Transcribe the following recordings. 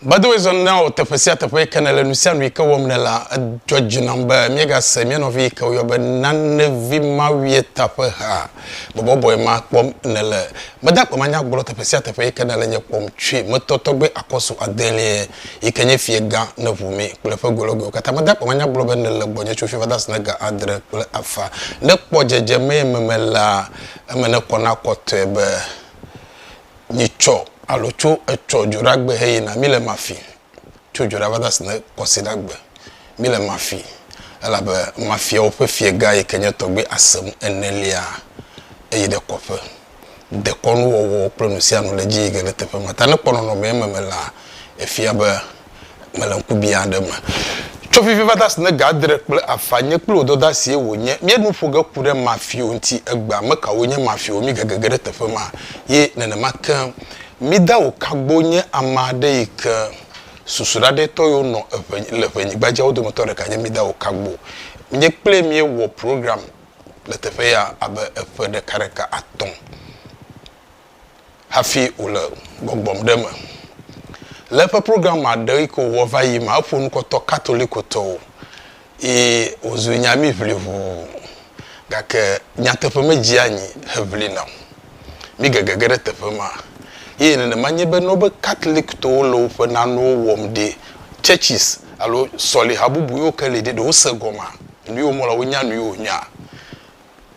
By the way, zɔn na wò teƒe sia teƒe yi ke nèle nu sia nu yi ke wɔm nèlea, edzɔ dzi nam be míegase mía nɔvi yi ke woyɔ be Nanevi Mawieta ƒe ha bɔbɔbɔe ma kpɔm nèle. Meda akpe manya gblɔ teƒe sia teƒe yi ke nèle nye kpɔm tsoe. Metɔ tɔgbe akɔsu adelia yi ke nye fiegã Neʋumi kple eƒe gologoewo katã. Meda akpe manya gblɔ be nèle gbɔnye tso fifaa va se na ga adre kple afã. Ne kpɔ dzedzemee meme la, eme nekɔ na kɔtɔe be Mi tsɔ alo tso etsɔ dzoɖa gbe he yina, mi le mafi, tso dzoɖa va dasi ne kɔsiɖa gbe, mi le mafi, elabe mafiawo ƒe fie gã yike nye tɔgbe asem enelia eyi ɖe kɔƒe. Dekɔnu wɔwɔ kple nusianu le dzi yike le teƒe ma ta ne kpɔ nɔnɔme eme me la efia be mele ŋkubiã aɖe me. Tso fifivada si ne Gadre kple afã nye kple wò dɔda sie wònye, míae nu ƒo ge ku ɖe Mafio ŋuti egbea. Ame kawoe nye Mafio? Mi gege ge ɖe teƒe ma ye nenema ke mida wò kagbo nye ame aɖe yi ke susu ɖaɖɛtɔ yiwo nɔ eŋe le ŋenyigba dzia wo dometɔ ɖeka nye mida wò kagbo. Nye kple míe wɔ program le teƒe ya abe eƒe ɖeka ɖeka atɔ̃. hafi wòle gbɔgbɔm ɖe eme. Le eƒe program ma ɖe yi ko wɔva yi ma, eƒo nu kɔtɔ Katolikotɔwo yi wòzu nya mí ʋli ʋuu. Gake nyateƒe medzi anyi heʋli na o. Mí gege ge ɖe teƒe ma ye nenema nye be ne wobe Katolikotɔwo le woƒe nanewo wɔm ɖi, churches alo sɔliha bubu yiwo ke li ɖi, ɖe wose gɔmea? Nu yi womlɔ la, wonya nu yi wonyɔa?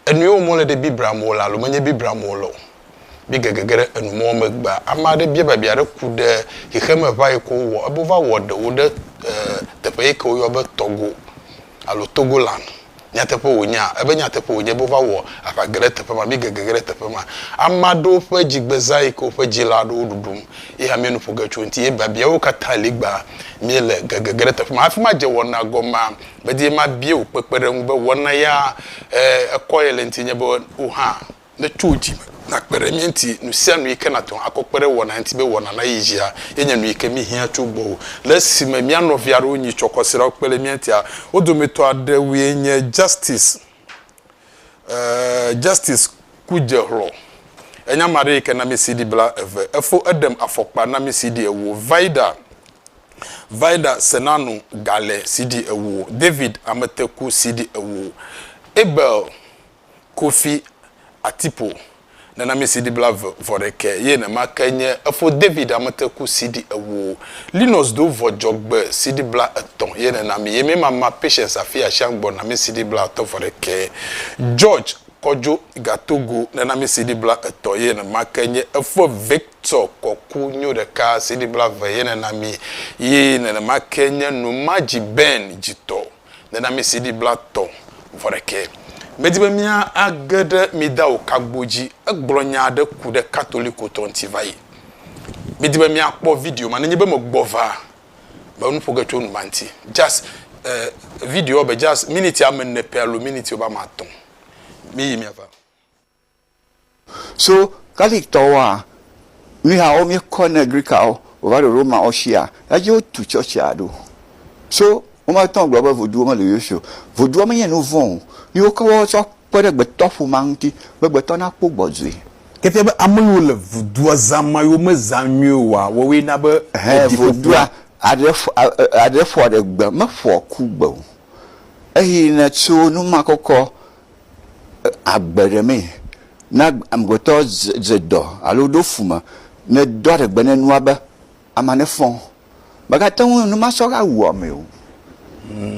Enu yewo mɔle ɖe Biblia me wole alo menye Biblia me wole o. Mí ge gege ɖe enu mɔwo megbea, ame aɖe bia biabia aɖe ku ɖe xexeme ʋã yi ke wowɔ ebe wova wɔ ɖewo ɖe teƒe yi ke woyɔna be Togo alo Togoland. Nyateƒe wònyea? Ebe nyateƒe wònye be wova wɔ aʋa geɖe teƒe ma. Mí ge gege ɖe teƒe ma. Ame aɖewo ƒe dzi gbe zã yi ke woƒe dzila aɖewo ɖuɖum ye hã míenu ƒo ge tso eŋuti ye biabiawo katã li gbaa míele ge gege ɖe teƒe ma. Afi ma dze wɔna gɔmea? Medi be mabia wò kpekpeɖeŋu be wò naya ekɔye le ŋutinye be wò hã nètso wò dzi me nàkpe ɖe mía ŋuti. Nusianu yike nàte ŋu akɔ kpe ɖe wɔna ŋuti be wɔna nayi edzia ye nye nuyike míhiã tso gbɔwò. Le esime mía nɔvi aɖewo nyi tsɔ kɔsiɖawo kpe ɖe mía ŋutia, wo dometɔ aɖewoe nye Justice, Justice Kudzexlɔ, enye ame aɖe yike na mí CD bla eve, efo eɖem afɔkpa na mí CD ewo, Vida, Vida Senanu gale CD ewo, David Ameteku CD ewo, Abel Kofi Atipo nenami CD bla ve vɔ ɖekɛ ye nema ke nye efo David Ameteku CD ewo, Linus Do vɔ djɔ gbe CD bla etɔ ye nenami ye mema ma Patience Afi Ashiang gbɔ nami CD bla atɔ vɔ ɖekɛ, George Kɔdjo Gatogo nenami CD bla etɔ ye nema ke nye efo Vic tsɔ kɔku nyo ɖeka CD blave ye nena mi yi nenema ke nye nu ma dzi Ben dzi tɔ nena mi CD bla tɔ vɔ ɖekɛ. Me di be mia a ge ɖe mi da o kagbo dzi egblɔ nya aɖe ku ɖe katoliko tɔ ŋti vayi. Mi di be mia kpɔ video ma nenye be me gbɔ va me nu ƒoge tso nu ma ŋti. Just eh video be just minute ame ne pɛ alo minute wobe ame atɔ mi yi mia va. So Catholic tɔwoa, míhawo míekɔ ne Greekawo wova ɖo Romawo shia, eya dzi wotu tsɔtsia ɖo. So womate ŋu agblɔ be Vodouwo mele Yesu o. Vodouwo menye nu vɔ̃ o. Ye wokɔ wo tsɔ kpe ɖe gbetɔ ƒomea ŋuti be gbetɔ nakpɔ gbɔdzɔe. Ke fia be ame yiwo le Vodoua zã ma yiwo mezã nyuie oa, woawoe na be Ɛhɛ, wodi ƒoƒua. Vodoua aɖe ƒo, a, aɖe ƒoa ɖe gbe, meƒoa ku gbe o. Eyi ne tso numakɔkɔ agbe ɖe mee. Ne amegbetɔ dze dɔ alo ɖo fu me ne do aɖe gbe ne nua be, amea ne fɔ. Mègate ŋu nu ma sɔ va wu amee o.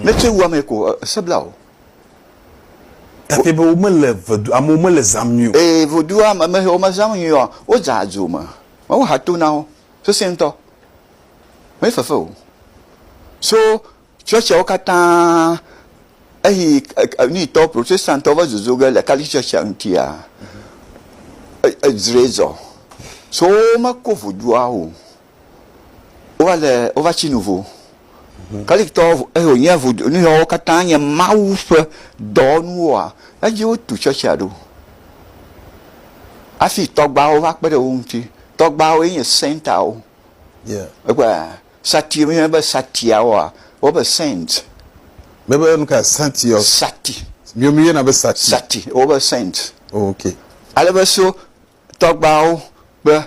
Ne tsɔe wu amee ko ese bla wò. Gake be womele vedu amewo mele zã nyui o. Ee, vodua me me xewo mezã nyui oa, wodzea dzo me. Woha to na wo sesẽ ŋutɔ. Mefefe o. So Tsɔ tsiawo katã eyi nuyitɔ protestantɔ va zozo ge le Catholic Churchia ŋutia, edzrɔe zɔ. So wome ko vodua o. Wova le, wova tsi nu vo. Catholic tɔ eyi wonye vodu, nuyawo katã nye Mawu ƒe dɔwɔnuwoa, edzi wotu Churchia ɖo. Afi tɔgbawo va kpe ɖe wo ŋuti. Tɔgbawoe nye saintawo. Yeah. Ekpɔe a? Sati, míeyɔnɛ be Satiawoa, wobe saint. Míebe nu kae? Sati ɔ? Sati. Míawo míeyɔna be Sati. Sati, wobe saint. Oh, ok. Ale be so tɔgbawo kple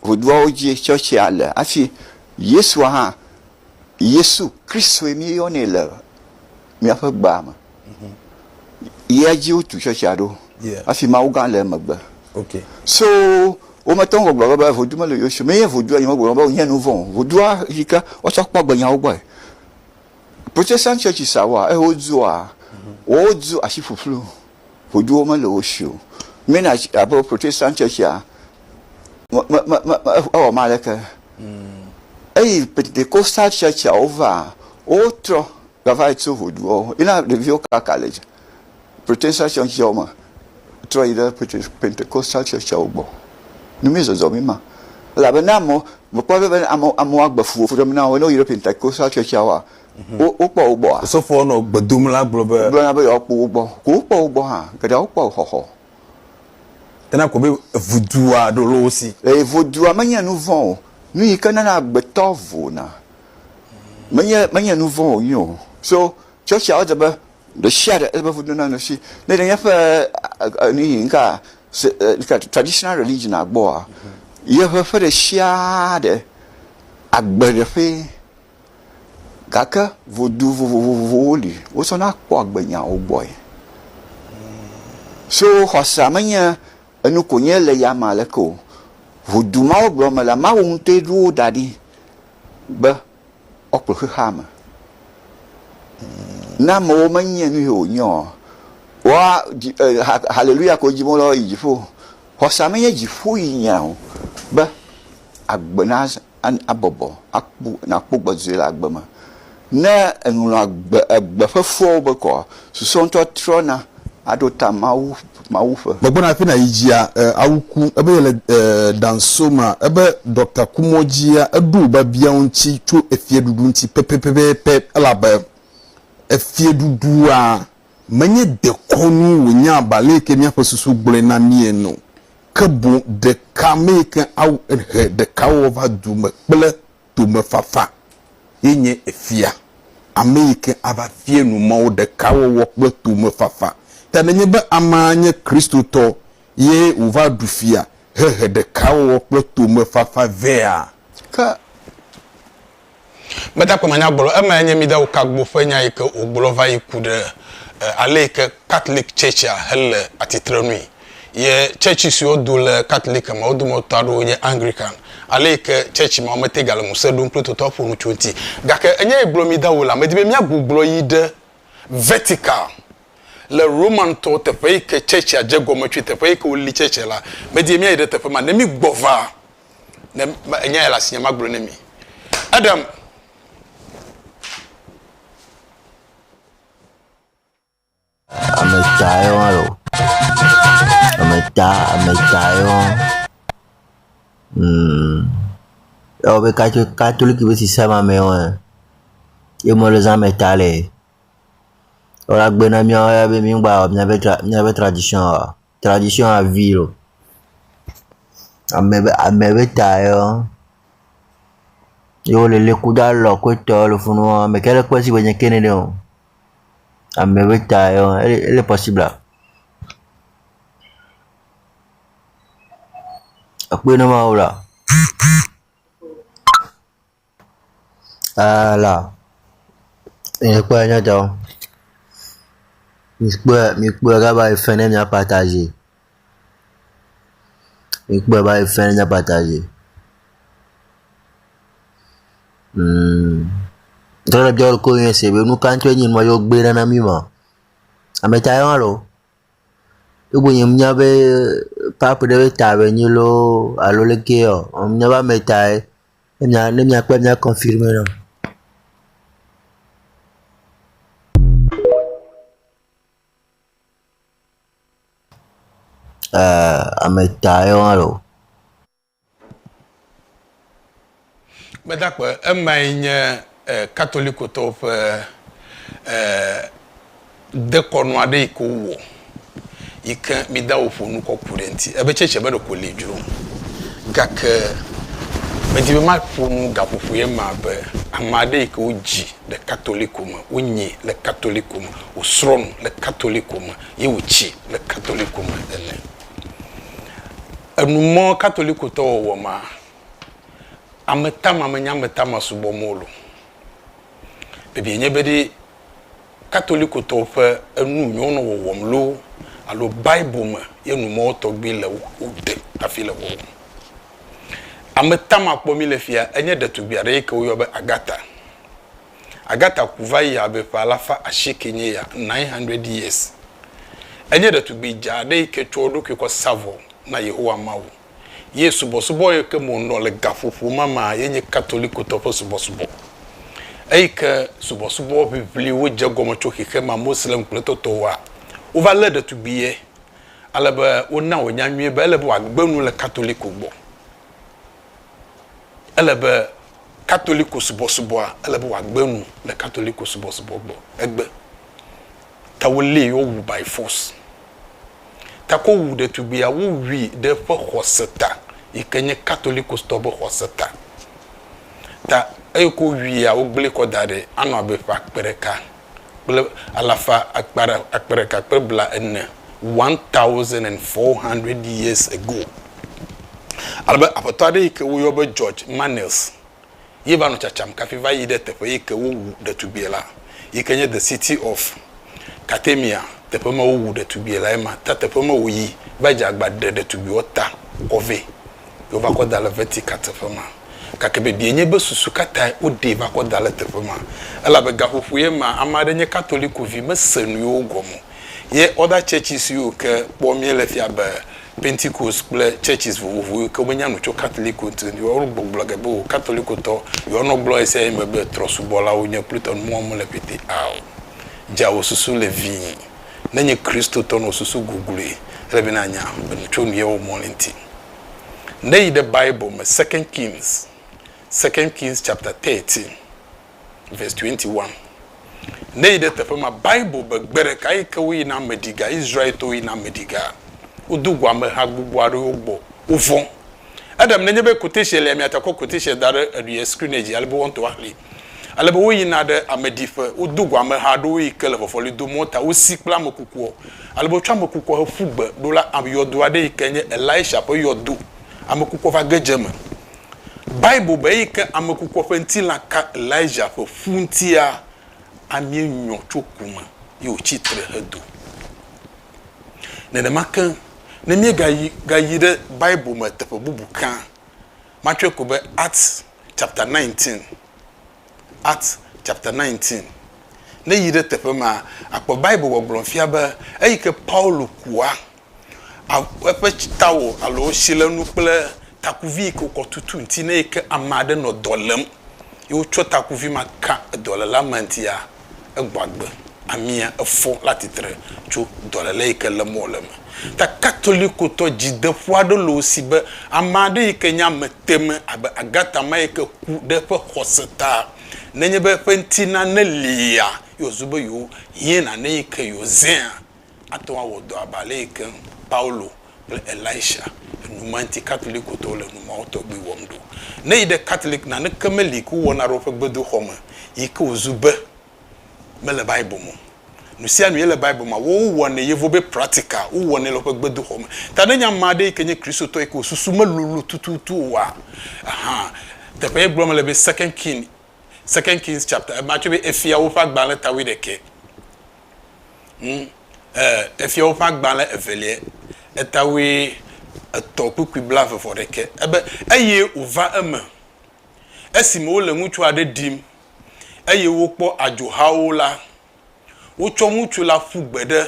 ʋuduawo dzi tsɔtsia le. Hafi Yesua hã, Yesu Kristoe míeyɔnɛ le míaƒe gbea me. yia dzi wotu tsɔtsia ɖo hafi Mawu gã le emegbe. Okay. So wometɔ ŋgɔ gblɔ be vodu mele yewo si o. Menye vodu enye wogblɔ be wonye nu vɔ̃ o. Vodua yi ke woatsɔ kpɔ agbe nyawo gbɔe. Protestant churches awoa eye wodzua wodzo asi ƒuƒlu. Voduwo mele wo si o. Mennonite church alo Protestant churchia me me me me ewɔ me aleke. Eyi Pentecostal churchia wovaa wotrɔ Gava yi tso ʋuduɔ me. Yi na ɖeviwo kaka le dzi. Pretensal tsɔtsɔ me. Trɔ yi ɖe pete, Pentecostal tsɔtsɔwo gbɔ. Nu mi zɔzɔ mi ma. Elabe ne amewo, mekpɔ be ne amewo, amewo agbe fu woƒe ɖem na wo ne woyi ɖe Pentecostal tsɔtsɔa woa, wo, wokpɔ wo gbɔa? Osɔfoɔ nɔ gbe dom la gblɔ be. Gblɔ na be yewoakpɔ wo gbɔ. Ko wokpɔ wo gbɔ hã. Geɖeawo kpɔ xɔxɔ. Ena ko be ʋudua ɖo lo wo si. Ʋudua menye nuvɔ̃ o. Nu yi ke nana agbetɔ vona. Menye, menye nu vɔ̃ wònye o. So, tsɔtsia, wodze be ɖe sia ɖe, ele be ŋudo naɖe asi. Ne ɖe nye ƒe nu yi ŋka, traditional religion gbɔa, yeƒe ƒe ɖe sia ɖe agbe ɖe ƒee. Gake ŋudu vovovowo li, wotsɔ na kpɔ agbe nyawo gbɔe. So, xɔsa menye enu ko nye le yame aleke o. Ŋudu ma wogblɔ me la, Mawu ŋutɔe ɖo wo da ɖi. be woakplɔ xexea me. Ne amewo menye nu yi wònye o, woa, dzi, e, ha, haleluya ko dim wole woayi dziƒo. Xɔsa menye dziƒo yi nya o, be agbe na, abɔbɔ, akpɔ, nàkpɔ gbedzɔe le agbe me. Ne eŋlɔa gbe egbe ƒe fuawo be kɔa, susua ŋutɔ trɔna aɖo ta Mawu Mawu ƒe. Megbɔna afi na yi dzia e awu ku ebe yele e dan so ma ebe dɔkta ku mɔ dzia eɖo o ba biawo ŋuti tso efie ɖuɖu ŋuti pɛpɛpɛpɛpɛ elabe efie ɖuɖua menye dekɔnu wo nya ba le yike miaƒe susu gblɔe na mi ene o ke boŋ ɖeka me yike awu ehe ɖeka wɔ va du me kple tomefafa ye nye efia, ame yi ke ava fia nu Mawu ɖekawɔwɔ kple tomefafa. Ta nenye be amea nye Kristotɔ ye wòva ɖu fia hehe ɖekawɔwɔ kple tomefafa vɛa? Ke meda kpem anyagblɔ emae nye Mida Okagbo ƒe nya yi ke wògblɔ va yi ku ɖe ale yi ke Catholic Church-a hele atitrenui. Ye tsɛtsi siwo do le Katolik me, wo dometɔ aɖewo nye Anglikan, ale yi ke tsɛtsi mawo mete gale ŋusẽ ɖom kple totɔa ƒo nu tso eŋuti. Gake enya yi gblɔm mída wole, medi be míagbugbɔ yi ɖe Vɛtikal, le Romantɔ teƒe yi ke tsɛtsia dze egɔme tsoe, teƒe yi ke woli tsɛtsia la. Medi be míayi ɖe teƒe ma ne mígbɔ va, ne enya yi le asinye magblɔe na mi. Adam. Ame etɔ̃ aɖe ma le o. Ame etɔ̃, ame etɔ̃ aɖe ma. Umm ewɔ abe katso katoliki be sisame amee ma. Ye me lɔ zã ame etɔ̃ le. Woagbe na mí be mígba wɔ míaƒe tra míaƒe tradition oa? tradition à vie o ame be ame be ta yɔ ye wo lele kudo alɔ ku etɔ le funu wɔn ame ke ɖe kpe si gbe nye ke nene o ame be ta yɔ ele ele pɔsibla ekpɔe ne ma wo la. Ɛɛ la, míekpɔe nye etɔ. Míekpɔe, míekpɔe ɖa va yi fe ɖe míaƒe ata dzi. Míekpɔe va yi fe ɖe míaƒe ata dzi. Hum. Dɔɖeɖewo koe nye esi be nu ka ŋutɔe nye nua yewo gbe ɖa na mí ma? Ame ta ye ma loo. Egbɔ nye mía be pap ɖe ta be nyi loo alo ɖe kee ɔ, nya be ame ta ye. Enya ne miakpɔe mia confirme nam. Uh, ame ta ye wa lo. Gbedakpe, emae nye Katolikotɔwo ƒe dekɔnu aɖe yi ke wowɔ yi ke mida woƒo nu kɔ ku ɖe eŋuti. Ebe tsɛtsɛ be ɖeko li dzro o. Gake medi be maƒo nu gaƒoƒo ye ma be ame aɖe yi ke wodzi le Katoliko me, wonyae le Katoliko me, wòsrɔ̃ nu le Katoliko me ye wòtsi le Katoliko me ene. Enu mɔ Katolikotɔ wɔwɔ ma Ametama menye ametama subɔ mɔlu. Bibia nye be ɖe Katolikotɔwo ƒe enu yi wonɔ wɔwɔm loo alo Bible me ye nu ma wo tɔgbi le o ɖe hafi le wɔwɔm. Ametama kpɔ mí le fia enye ɖetugbui aɖe yi ke woyɔ be Agatha. Agatha ku va yi abe ƒe alafa asieke nye ya, nine hundred years. Enye ɖetugbui dzaa aɖe yi ke tsɔ eɖokui kɔ sa vɔ na Yehowa Mawu. ye subɔsubɔ yi ke me wònɔ le gaƒoƒo ma me ye nye Katolikotɔ ƒe subɔsubɔ. Eyi ke subɔsubɔ ʋiʋliwo dze egɔme tso xexeame Moslem kple tɔtɔwoa, wova lé ɖetugbui ye ale be wona wònya nyuie be ele be wòagbe nu le Katoliko gbɔ. Ele be Katoliko subɔsubɔa, ele be wòagbe nu le Katoliko subɔsubɔ gbɔ. Egbe. Ta wolée ye wowu by force. Gake wowu ɖetugbuia, wowui ɖe eƒe xɔse ta yi ke nye Katolikostɔwo ƒe xɔse ta. Ta eyi ke wowuia, wogblẽe kɔ da ɖi anɔ abe ƒe akpe ɖeka kple alafa akpa ɖe, akpe ɖeka kple bla ene, one thousand and four hundred years ago. Ale be aƒetɔ aɖe yi ke woyɔ be George Manils ye va nɔ tsatsam kafi va yi ɖe teƒe yi ke wowu ɖetugbie la, yi ke nye The City of Carthamia, teƒe me wowu ɖetugbie lae ma, ta teƒe me wòyi va dze agba ɖe ɖetugbiwo ta kɔ vɛ, ye wova kɔ da le Vatican teƒe ma. Gake bibiae nye be, susu ka tae woɖee va kɔ da le teƒe ma? Elabe gaƒoƒoe ma, ame aɖe nye Katoliko vi, mese nu yewo gɔme o, ye other churches yiwo ke kpɔ míele fia be Pentecost kple churches vovovo yi ke me nya nu tso Catholic ŋu ŋuti. Yɔ wo gbɔgblɔ ge be wò Catholicwo tɔ. Yɔ nɔ gblɔ esia ye me be trɔsubɔlawo nye Kristɔ nu mɔ mele pɛtɛ ao. Dza wò susu le vii. Ne nye Kristotɔ nɔ susu gugluie, ele be na nya be nu tso nu ye wɔ mɔ le ŋuti. Ne yi ɖe Bible me Second Kings, Second Kings chapter thirteen. Verse 21, Ne yi ɖe teƒe ma, Bible be, Gbe ɖeka yi ke woyi na ame ɖi ga, Israel-tɔwo yi na ame ɖi ga, wodo go ameha gbogbo aɖewo gbɔ, wovɔ̃. Adam, nenye be quotation lia, miate ŋu akɔ quotation da ɖe eɖuie screen-e dzi, ale be woaŋtɔ axli. Ale be woyina ɖe ame ɖi ƒe, wodo go ameha aɖewo yi ke le fɔfɔli dom mɔ ta wosi kple ame kukua. Ale be wotsɔ ame kukua heƒu gbe. Ɖo la, yɔdo aɖe yi ke nye Elisha ƒe yɔdo, ame kukua va ge dze eme. Bible be eyi ke ame kukua ƒe ŋtilã ka Elijah ƒe ƒu ŋutia, amie nyɔ tso ku me ye wòtsi tre hedo. Nenema ke, ne míegayi gayi ɖe Bible me teƒe bubu kea, matsɔe ko be Acts chapter nineteen, Acts chapter nineteen. Ne èyi ɖe teƒe ma, àkpɔ Bible gbɔgblɔ fia be eyi ke Paulo kua eƒe tsitawɔ alo tsilenu kple takuvi yi ke wokɔ tutu ŋuti ne yi ke ame aɖe nɔ dɔ lém ye wotsɔ takuvi ma ka dɔléla ma ŋutia, egbɔ agbe, amia, efɔ la titre tso dɔléle yi ke lém wòle me. Ta Katolikotɔ dzideƒo aɖe le wo si be ame aɖe yi ke nye ame teme abe Agatha ma yi ke ku ɖe eƒe xɔse ta nenye be eƒe ŋutilã ne lia, ye wòzu be yewohiẽna ne yi ke yewozẽa, Ate ŋu awɔ dɔ abe ale yi ke Paulo kple Elisha enumanti Katolikotɔwo le numao tɔgbi wɔm ɖo. Ne yi ɖe Katolik naneke meli ko wowɔna ɖe woƒe gbedoxɔ me yi ke wòzu be mele Bible me o. Nusianu ye le Bible mea, woawo wowɔnɛ yevo be practica, wowɔnɛ le woƒe gbedoxɔ me. Ta ne nye ame aɖe yi ke nye Kristotɔ yi ke wò susu melolo tututu oa, ahan, teƒe ye gblɔm le be Second King, Second Kings chapter, ema tsɔe be Efiawo ƒe agbalẽ ta wuiɖekɛ. Ŋ, e, Efyawo ƒe Agbalẽ Evelia, Etawoe etɔ̃ kpukpui blaeve vɔ ɖekɛ. Ebe, Eye wòva eme, esime wole ŋutsu aɖe ɖim, eye wokpɔ adzohawo la, wotsɔ ŋutsu la ƒu gbe ɖe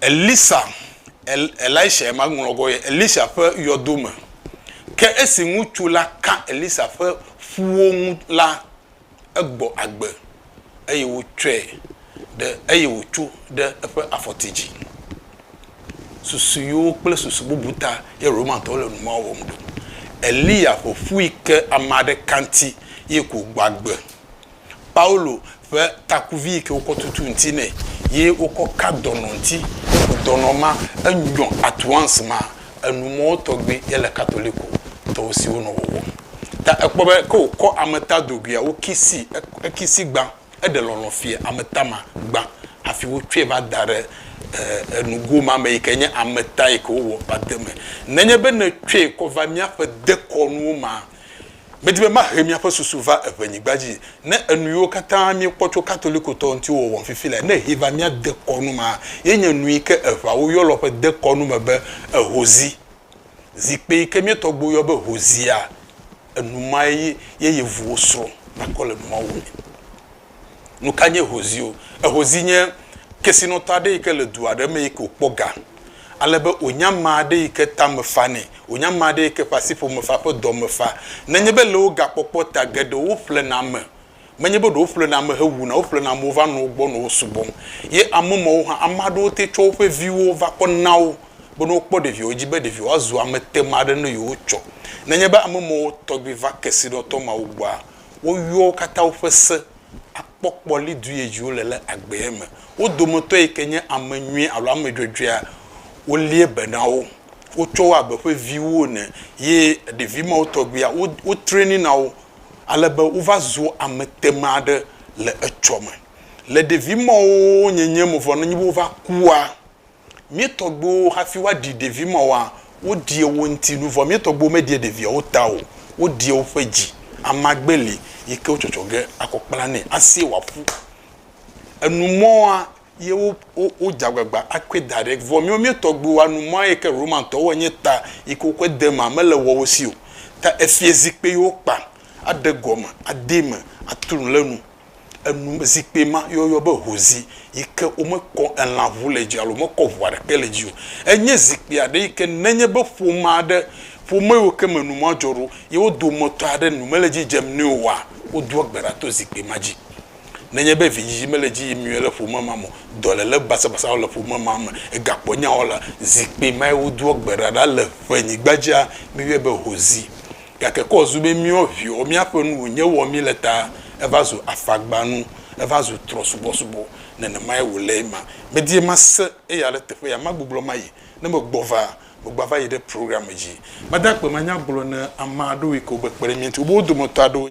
Elisa, El, Elishae ma ŋlɔ gɔ ye, Elisha ƒe yɔdo me. Ke esi ŋutsu la ka Elisa ƒe ƒuwo ŋu la, egbɔ agbe, eye wotsɔe ɖe eye wòtso ɖe eƒe afɔti dzi. Susu yewo kple susu bubu ta ye Romatɔwo le nu ma wɔm ɖo. Eliya ƒo ƒui ke ame aɖe kanti ye ko wògbɔ agbe. Paulo ƒe takuvi yi ke wokɔ tutu ŋuti nɛ ye wokɔ ka dɔnɔ ŋuti. Dɔnɔ ma, enyɔ at once ma enumɔ tɔgbi ye le Katoliko tɔwo si wonɔ wɔwɔm. Ta ekpɔ be ke wòkɔ ameta doguia, wokisi ekisi gbã, eɖe lɔlɔ̃ fia ameta ma gbã hafi wotsɔe va da ɖe nugo ma me yi ke nye ameta yi ke wowɔ va de eme. Nenye be nètsɔe kɔ va míaƒe dekɔnuwo mea, Medi be mahe miaƒe susu va eŋɛnyigba dzi. Ne enuyiwo katã miekpɔ tso Katolikotɔwo ŋuti wɔwɔm fifi lae, ne he va mía dekɔnu me hã, ye nye nui ke eŋawo yɔlɔ ƒe dekɔnu me be ehozi. Zikpui yi ke mía tɔgbuiwo yɔ be hozia, enu mae ye yevuwo srɔ̃ nakɔ le nuawo me. Nu ka nye ehozio? Ehozi nye kesinɔtɔ aɖe yi ke le du aɖe me yi ke wòkpɔ ga ale be wònye ame aɖe yi ke ta me fa nɛ, wònye ame aɖe yi ke ƒe asiƒome fa, ƒe dɔ me fa. Nenye be le wo gakpɔkpɔ ta geɖewo ƒlena ame, menye be ɖe woƒlena ame hewuna o, woƒlena amewo va nɔ wo gbɔ nɔ wo subɔm. Ye ame mawo hã, ame aɖewo te tsɔ woƒe viwo va kɔ na wo be ne wokpɔ ɖeviawo dzi be ɖevia woazu ametema aɖe ne yewotsɔ. Nenye be ame mawo tɔgbi va kesinɔtɔ mawo gbɔa, woyɔa wo katã woƒe se akpɔ kpɔ li du ye dzi wole le agbee me. Wo dometɔ yi ke nye ame nyui alo ame dzɔdzɔea, wolie be na wo. Wotsɔ wo abe ƒe viwo ene ye ɖevi mawo tɔgbuia, wo, wo trainina wo ale be wova zua ame tema aɖe le etsɔ me. Le ɖevi mawo nyenye me vɔ nenye be wova kua, Mía tɔgbuiwo hafi woaɖi ɖevi mawoa, woɖia wo ŋuti nu, vɔ mía tɔgbuiwo meɖia ɖeviawo ta o, woɖia woƒe dzi. Amagbe li yi ke wotsɔtsɔ ge akɔ kpla nɛ asie wòaƒu. Enu mɔa ye wo, wo, wodze agbagba akɔe da ɖe. Vɔ míwo mía tɔgbuiwoa, nu mɔa yi ke Romatɔwo wɔe nye ta yi ke wokɔe de emea, mele woawo si o. Ta efiazikpui yi wokpa, aɖe gɔme, adee me, atu nu ɖe enu. enu me zikpui ma ye woyɔ be hozi yi ke womekɔ elã ŋu le dzi alo womekɔ ŋu aɖeke le dzi o. Enye zikpui aɖe yi ke nenye be ƒome aɖe, ƒome yiwo ke me nua dzɔ ɖo ye wo dometɔ aɖe nu mele edzi dzem nɛ oa, wodoa gbe ɖa to zikpui ma dzi. Nenye be vidzidzi mele edzi yim nyuie le ƒome ma me o, dɔléle basabasawo le ƒome ma me, egakpɔ nyawo la, zikpui mae wodoa gbe ɖa ɖa le ƒenyigba dzia, míeyɔe be hozi. Gake kɔ zu be míɔ viɔ, míaƒe nu wònye wɔ mí le ta, eva zu afagbanu, eva zu trɔsubɔsubɔ. Nenemae wòle ema. Medie mase eya ɖe teƒe ya, magbublɔ mayi. Ne megbɔ va, megbava yi ɖe programme dzi. Mada akpe manyagblɔ ne ame aɖewo yi ke wobe kpe ɖe mía ŋuti. Wobe wo dometɔ aɖewo.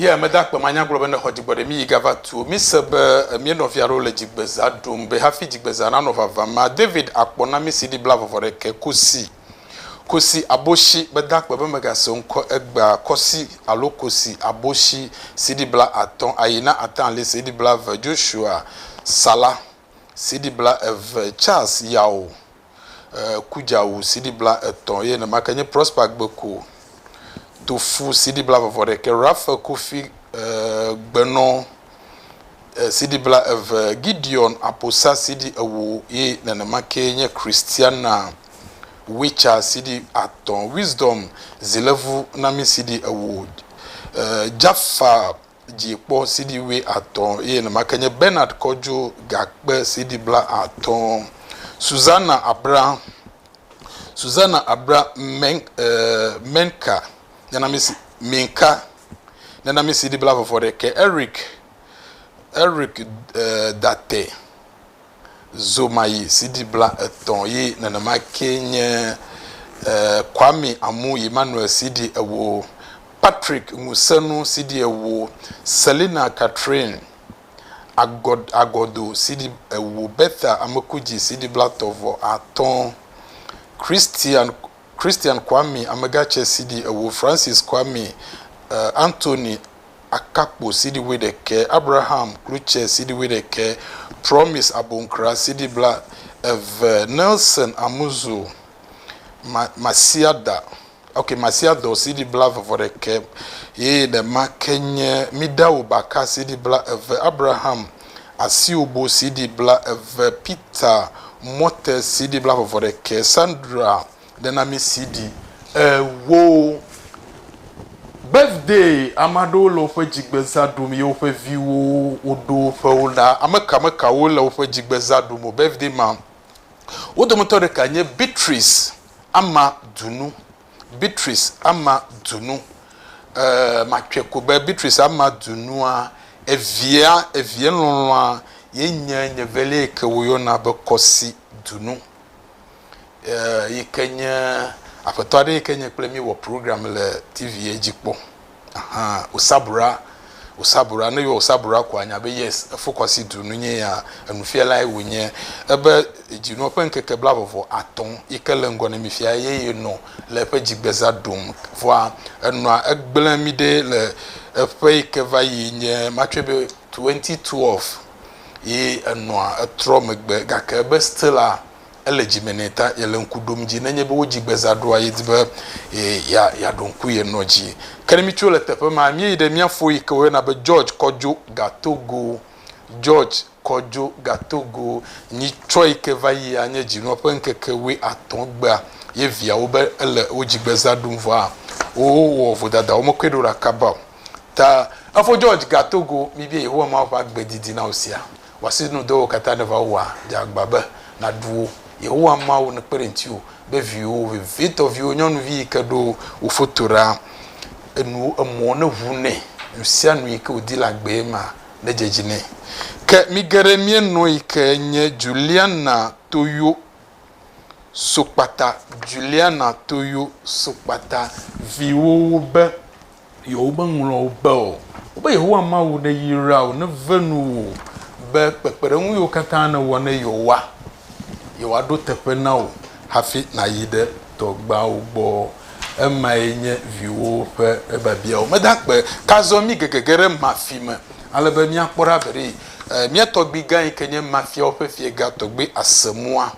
Ye mede akpe manya gblɔ be nexɔ dzigbɔɖi mi yi gava tuo. Mi se be emie nɔvia ɖewo le dzigbeza ɖum be hafi dzigbeza nanɔ vava ma David akpɔ na mi CD bla vɔvɔ ɖekɛ kosi kosi aboshi mede akpe be megase ŋkɔ egbea kɔsi alo kosi aboshi CD bla atɔ ayi na atali CD bla eve Joshua Sala CD bla eve Charles Yao. ku dza wu CD bla etɔ̃ eye nenemake nye Prosper Gbeku tu fu CD bla vɔvɔ ɖekɛ, Raphael Kofi Gbenɔ CD bla eve, Gideon Aposa CD ewo eye nenemake nye Christiana Witcha CD atɔ̃, Wisdom Zilevu Nami CD ewo, Jaffa dzi kpɔ CD wuiatɔ̃ eye nemake nye Bernard Kojo gakpe CD blaatɔ̃. Susana Abra, Susana Abra Men, uh, Menka, nana mi Minka, nana mi CD blavɔvɔ ɖe ke Eric, Eric uh, Date. zomayi CD bla etɔ̃ yi nenema ke nye Kwame Amu Emmanuel CD ewo, Patrick Ŋusenu CD ewo, Selina Catherine Agɔdo CD ewo, Bertha Amekudzi CD bla tɔ̃ vɔ atɔ̃, Christian Christian Kwame Amegatsɛ CD ewo, Francis Kwame Anthony akakpo CD wuiɖekɛ, Abraham klutsɛ CD wuiɖekɛ, Promise aboŋkra CD bla eve, Nelson Amuzu ma, Masiada, ok, Masiadɔ CD bla eve vɔ ɖekɛ, ye nɛma ke nye Midawu baka CD bla eve, Abraham Asiobo CD bla eve, Peter Mɔte CD bla eve vɔ ɖekɛ, Sandra ɖena mi CD ewo birthday ame aɖewo le woƒe dzigbezã ɖum ye woƒe viwo woɖo woƒe wo na ameka mekawo le woƒe dzigbezã ɖum o birthday ma wo dometɔ ɖeka nye Beatrice ama dunu Beatrice ama dunu eh, matsɔe ko be Beatrice ama dunua evia evia lɔlɔa ye nye nye velia yi ke woyɔna be kɔsi dunu yi ke nye aƒetɔ aɖe yi ke nye kple mi wɔ program le TV dzi kpɔ. Aha, Osabura, Osabura, ne yɔ Osabura ko anya be yes, efokɔsi du nu nye ya, enufialae wònye. Ebe dzinu ƒe ŋkeke bla vɔvɔ atɔ̃ yi ke le ŋgɔ ne mi fia ye yenɔ le eƒe dzigbeza ɖum. Vɔa enɔa egblẽ mi ɖe le eƒe yi ke va yi nye matsɔe be 2012 ye enɔa etrɔ megbe gake ebe stila, ele dzi me nɛ ta yele ŋku ɖom dzi nenye be wodzi gbe zã ɖoa yedi be ya ya ɖo ŋku ye nɔ dzi ke ne mi tso le teƒe ma mi yi ɖe mia fo yi ke woyɔna be George kɔdzo gatogo George kɔdzo gatogo nyi tsɔ yi ke va yi anye dzi nɔ ƒe ŋkeke wui atɔ gbea ye viawo be ele wodzi gbe zã ɖom vɔa wowɔ vodada wo mekɔe ɖo ɖe akaba ta efo George gatogo mi bia yehowa ma ƒe agbe didi na wo sia Wɔ si nu dɔwo katã ne va wòa, dze agba be nàɖu wo. Yehowa Mawu nekpe ɖe ŋutiwò be viwò vevitɔ, viwò nyɔnuvi yi ke ɖo wò foto ɖa, enu emɔ neʋu nɛ. Nu sia nu yi ke wòdi le agbee ma, nedze edzi nɛ. Ke mi geɖe mienɔ yi ke nye Juliana Toyo Sokpata, Juliana Toyo Sokpata, viwòwo be Yewomeŋlɔ wò be o. Wobe, Yehowa Mawu neyra wò, neve nu wò be kpekpeɖeŋu yiwo katã nèwɔ ne yewoa, yewoaɖo teƒe na wò hafi nàyi ɖe tɔgbeawo gbɔ. Emae nye viwòwo ƒe biabiawo. Mede akpe. Ke azɔ mígege ge ɖe Mafi me ale be míakpɔ ɖa veɖee. Mía tɔgbuigã yi ke nye Mafiawo ƒe fiega tɔgbui ase mɔa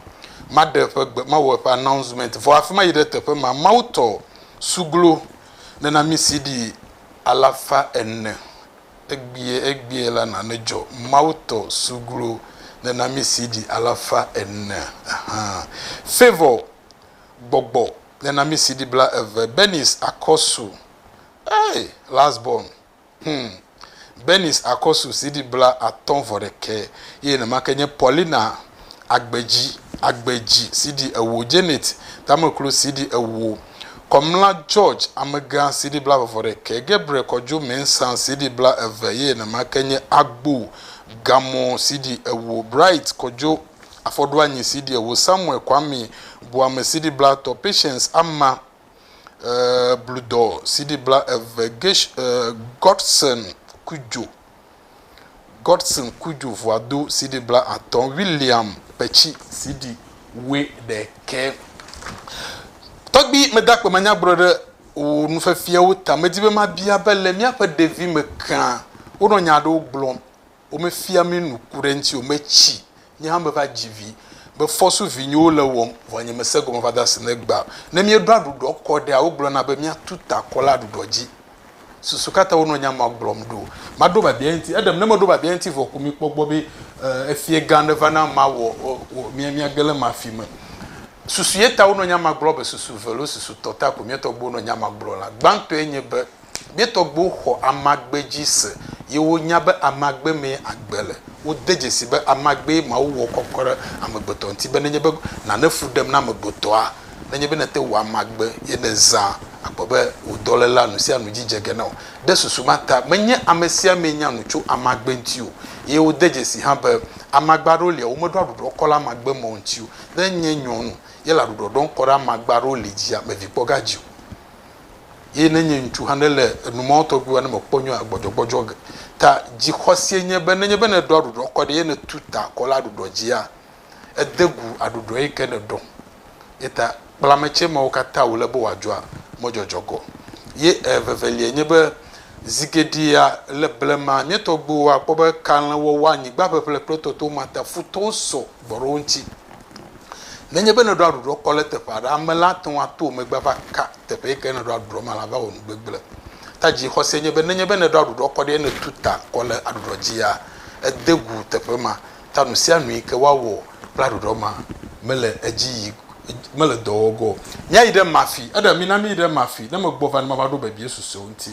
maɖe eƒe gbe, mawɔ eƒe announcement. Vɔ hafi mayi ɖe teƒe ma, Mawutɔ suglo Ne na mí CD alafa ene egbie egbie la na nedzɔ Mawu tɔ suglo ne na mí CD alafa ene ehã Favour gbɔgbɔ ne na mí CD bla eve Bernice Akɔsu eeh last born Hum. Bernice Akɔsu CD bla atɔ̃ vɔ ɖekɛ ye nemake nye Paulina Agbedzi Agbedzi CD ewo Janet Tameklo CD ewo Kɔmla George Amegã CD bla eve vɔ ɖekɛ Gabriel Kɔdzo Mensah CD bla eve ye nemake nye Agbo Gamɔ CD ewo Bright Kɔdzo Afɔɖoanyi CD ewo Samuel Kwame Boame CD bla tɔ Patience Ama bludɔ CD blaeve, Gesh, Godson Kudjo, Godson Kudjo Vuado CD blaatɔ̃, William Petsi CD wuiɖekɛ. Tɔgbi, meda akpe manya gblɔ ɖe wò nufiafiawo ta. Medi be mabia be le míaƒe ɖevime kea, wonɔ nya aɖewo gblɔm. Womefia mí nu ku ɖe eŋuti o. Metsi, nye hã meva dzi vi. Mefɔ so vinyewo le wɔm, vɔ nye mese gɔme va do asi ne gbea o. Ne míeɖoa aɖuɖɔ kɔ ɖea, wogblɔna be míatu ta akɔ le aɖuɖɔ dzi. Susu ka tae wonɔ nya ma gblɔm ɖo? Maɖo biabia eŋuti. Eɖem, ne meɖo biabia eŋuti vɔ ko mikpɔ egbɔ be efiegã aɖe va na mawɔ míage le ema fi me. Susu ye ta wonɔ nya ma gblɔ be susu ve lo, susu tɔ ta ko mía tɔgbuiwo nɔ nya ma gblɔ la. Gbãtɔe nye be Mía tɔgbuiwo xɔ amagbe dzi se, ye wonya be amagbe mee agbe le. Wode dzesii be amagbee Mawu wɔ kɔkɔ ɖe amegbetɔ ŋuti be nenye be nane fu ɖem na amegbetɔa, nenye be nète ŋu amagbe ye nèzã akpɔ be wò dɔléla nusianu dzi dze ge na wò. Ɖe susu ma ta, menye amesiamee nya nu tso amagbe ŋuti o. Ye wode dzesii hã be amagbe aɖewo li a womeɖo aɖuɖɔ kɔ ɖe amagbe mawo ŋuti o. Ne nye nyɔnu ye le aɖuɖɔ ɖɔm kɔ ɖe amagbe aɖewo li dzia, mevi kpɔ ga dzi o. eye ne nye ŋutsu hã ne le enu mawo tɔgbi wɔm ne mekpɔ nyɔa gbɔdzɔgbɔdzɔ ge ta dzixɔsie nye be nenye be nèɖɔ aɖuɖɔ kɔ ɖi eye nètu ta akɔ le aɖuɖɔ dzia ède gu aɖuɖɔ yi ke nèɖɔ. Ye ta kple ame tsɛ mawo katã wòle be wòadzɔa mɔdzɔdzɔ gɔ. Ye eveveliae nye be zigeɖea le blema mía tɔgbiwo akpɔ be kalẽwɔwɔ, anyigbaʋeʋle kple tɔtewomata futɔwo sɔ gbɔ ɖe wo ŋuti. Nenye be nèɖɔa ɖuɖɔ kɔ ɖe teƒe aɖe, ame la ate ŋu ato wò megbe ava ka teƒe yi ke nèɖɔa ɖuɖɔ ma le ava wɔ nugbegblẽ. Ta dzixɔse nye be nenye be nèɖɔa ɖuɖɔ kɔ ɖi eye nètu ta kɔ le aɖuɖɔ dzia, ède gu teƒe ma. Ta nu sia nu yi ke woawɔ kple aɖuɖɔ ma mele edzi yi mele dɔ wɔ ge o. Míayi ɖe ema afi. Eɖe, mina míyi ɖe ema afi. Ne megbɔ va ne mava ɖo bebie susuewo ŋuti.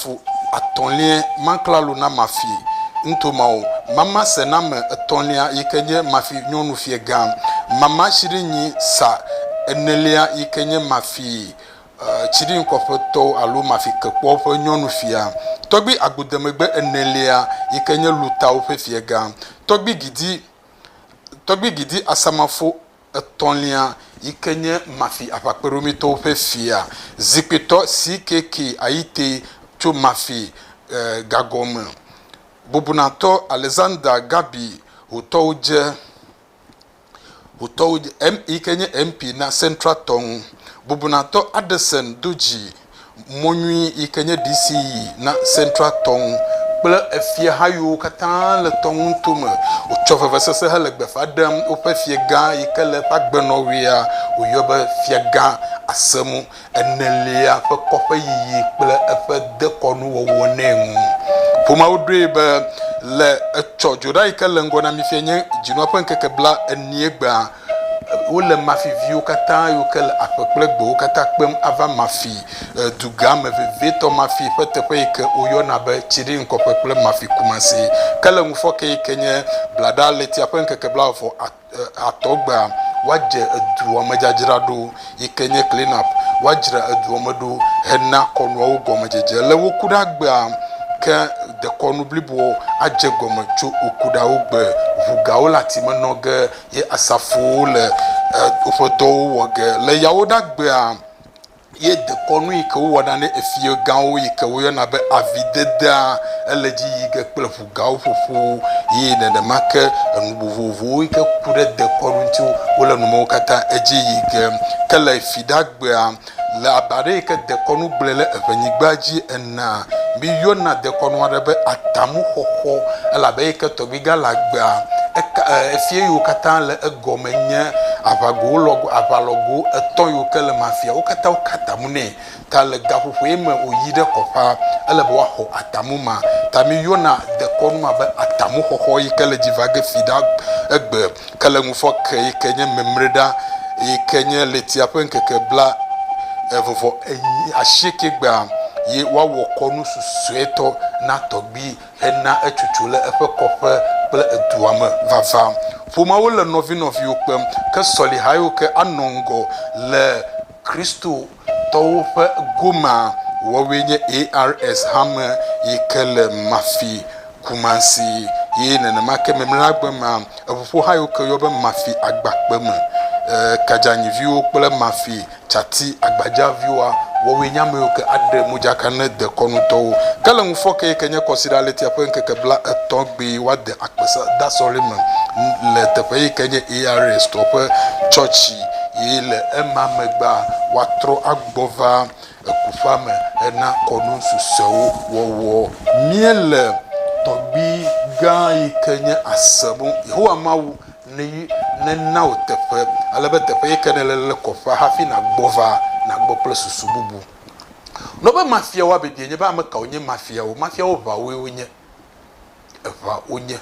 Fu atɔ̃liae ma klalo na Mafi ŋto ma o. Mama sename etɔ̃lia yi ke nye Mafi nyɔnufiɛ gã. Mama tsiɖinyi sa enelia yi ke nye Mafi tsiɖinkɔƒe tɔ alo Mafi kekpɔ ƒe nyɔnufia. Tɔgbi agbodemegbe enelia yi ke nye Lutawo ƒe fiɛ gã. Tɔgbi gidi, tɔgbi gidi Asamafo etɔ̃lia yi ke nye Mafi Aʋakpeɖomitɔwo ƒe fia, zikpuitɔ CKK Ayite tso Mafi gago me, bubunatɔ Alexander Gabi Hotɔudze yi ke nye MP na Central tɔ ŋu, bubunatɔ Addison Dodzi. Mɔ nyui yi ke nye DC yi na Central tɔ ŋu kple efiaha yiwo katã le tɔ ŋu nuto me. Wotsɔ vevesese hele gbe ƒã ɖem woƒe fiagã yi ke le eƒe agbenɔɣia wòyɔ be Fiagã Asẽmu Enelia ƒe kɔƒe yiyi kple eƒe dekɔnuwɔwɔ nɛ ŋu. Ƒomeawo ɖoe be le etsɔ dzoɖa yi ke le ŋgɔ na mi fia nye Dzinua ƒe Ŋkeke Bla Enie gbea, Wole mafi viwo katã yiwo ke le aƒe kple gbewo katã kpem ava mafi dugã me vevietɔ, mafi ƒe teƒe yi ke woyɔna be Tsiɖiŋkɔƒe kple mafi Kumasi. Ke le ŋufɔke yi ke nye Bladaɣletia ƒe ŋkeke blaeve atɔ gbea, woadze edua me dzadzra ɖo yi ke nye clean up, woadzra edua me ɖo hena kɔnuawo gɔmedzedze. Le wo kuɖa gbea ke dekɔnu bliboa adze gɔme tso wo kuɖawo gbe. Ŋu gawo le ati me nɔ ge. Ye asafowo le woƒe dɔwo wɔ ge le yawo ɖa gbea, ye dekɔnu yi ke wowɔ na ne efia gãwo yi ke woyɔna be avi dedea ele dzi yi ge kple ʋu gãwo ƒoƒo ye nenema ke enu vovovowo yi ke ku ɖe dekɔnu ŋuti wole numewo katã edzi yi ge. Ke le fi ɖa gbea. Le abe ale yi ke dekɔnu gblɔe le Eŋɛnyigba dzi enea, míyɔna dekɔnu aɖe be atamuxɔxɔ, elabe eyi ke Tɔgbuigã le agbea, eka, e, efia yiwo katã le egɔme nye aʋagowo lɔ, aʋalɔgo etɔ̃ yiwo ke le ema fia. Wo katã woka atamu nɛ. Ta le gaƒoƒoe me wòyi ɖe kɔƒea, ele be woaxɔ atamu ma. Ta míyɔna dekɔnu ma be atamuxɔxɔ yi ke le dzi va ge fi ɖe egbe. Ke le ŋufɔ ke yi ke nye mimriɖa yi ke nye ɣletia ƒe ŋkeke bla eve vɔ enyi ashieke gbea ye woawɔ kɔnu susuetɔ na tɔgbui hena etsotso le eƒe kɔƒe kple edua me vava. Ƒomeawo le nɔvi nɔviwo kpem ke sɔlihaewo ke anɔ ŋgɔ le Kristo tɔwo ƒe gomea wɔwɔe nye ARS hame yi ke le Mafi, Kumasi ye nenema ke Memlagbe mea eŋuƒoha yiwo ke woyɔ be Mafi Agbakpe me. E Kadzanyiviwo kple Mafi Tsati Agbadzaviwoa wɔwɔe nye ame yiwo ke aɖe modzaka ne dekɔnutɔwo ke le ŋufɔke yi ke nye Kɔsiɖa Ɣletia ƒe ŋkeke bla etɔ̃ gbe woade akpedasɔle me le teƒe yi ke nye ARS tɔ ƒe tsɔtsi eye le ema megbea, woatrɔ agbɔ va ekuƒea me hena kɔnu susɔewo wɔwɔ. Míele tɔgbui gã yi ke nye asenu, Yehowa Mawu, ne yi nena wò teƒe, ale be teƒe yi ke nèle le kɔƒea hafi nàgbɔ va, nàgbɔ kple susu bubu. Nɔ be mafiawoa biabiae nye be, Ame kawo nye mafiawo? Mafiawo ʋawoe wonye. eŋa wonye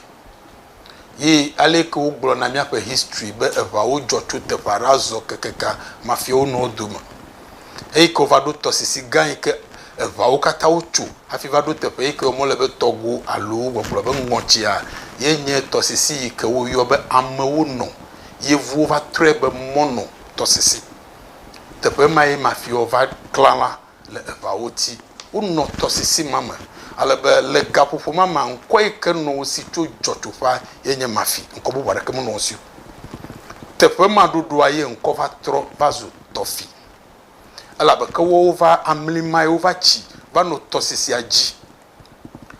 ye aleke wogblɔ na míaƒe histri be eŋawo dzɔ tso teƒe aɖe azɔ kekeka mafia wo nɔewo dome. Eyi ke wova ɖo tɔsisi gã yi ke eŋawo katã wotso hafi va ɖo teƒe yi ke wɔm wole be tɔgo alo gbɔgblɔ be ŋɔtsia ye nye tɔsisi yi ke woyɔ be amewo nɔ. Yevuwo va trɔe be mɔnɔ tɔsisi. Teƒe mae mafiawo va klã la. le eƒeawo ti. Wonɔ tɔsisi ma me ale be le gaƒoƒo ma mea, ŋkɔ yi ke nɔ wo si tso dzɔtsoƒea ye nye Mafi, ŋkɔ bubu aɖeke menɔ wo si o. Teƒe ma ɖoɖoa ye ŋkɔ va trɔ va zu Tɔfi, elabe ke woawo va amli mae wova tsi va no tɔsisia dzi.